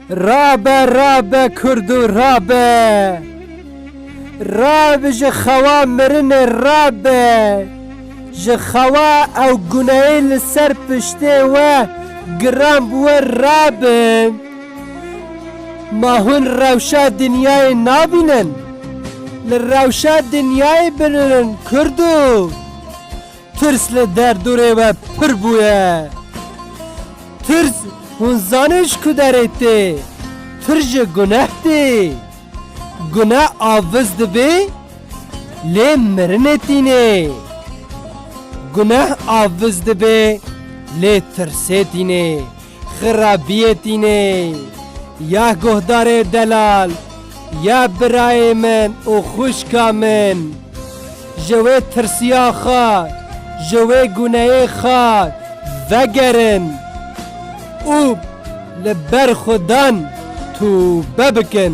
Rabe rabe Kurdo rabe Rab ji xewa mirinê rabe Ji xewa ew guneyê li ser piştê we giran bi we rabin Ma hûn rewşa dinyayê nabînin Li rewşa dinyayê binin Kurdo Tirs li derdorê we pir bûye. Tirs hûn zanên ji ku derê tê. Tirs ji guneh tê. Guneh aviz dibê lê mirinê tînê. Guneh aviz dibê lê tirsê tînê. Xirabiyê tînê ya guhdarê delal ya birayê min û xwişka min. Ji wê tirsiya xwe, ji wê guneyê xwe vegerin û li ber xwe dan tûbe bikin.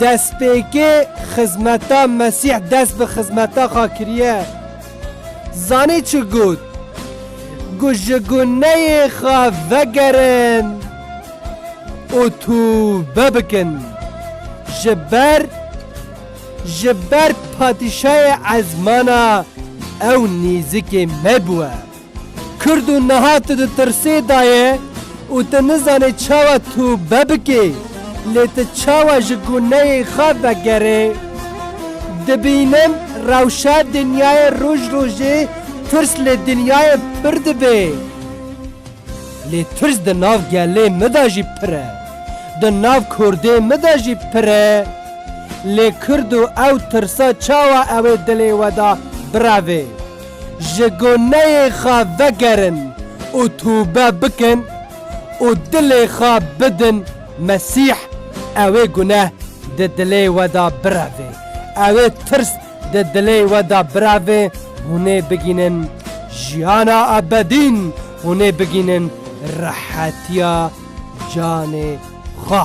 Destpêkê xizmeta Mesîh dest bi xizmeta xwe kiriye. Zanî çi got? Got ji guneyê xwe vegerin û tûbe bikin. Ji ber ji ber patîşayê ezmana ew nîzikê me bûye. Kurd û niha tu di tirsê da ye û tu nizanê çawa tûbe bikê, lê tu çawa ji guneyê xwe vegerê. Dibînim rewşa dinyayê roj rojê tirs li dinyayê pir dibe. Lê tirs di nav gelê min da jî pir e. Di nav kurdê min da jî pir e. Lê kurd û ew tirsa çawa ewê dilê we da bireve? Ji goneyê xwe vegerin û tûbe bikin û dilê xwe bidin Mesîh, ewê guneh di dilê we de birevê, ewê tirs di dilê we de birevê, hûnê bigînin jiyana ebedîn, hûnê bigînin rehetiya canê xwe.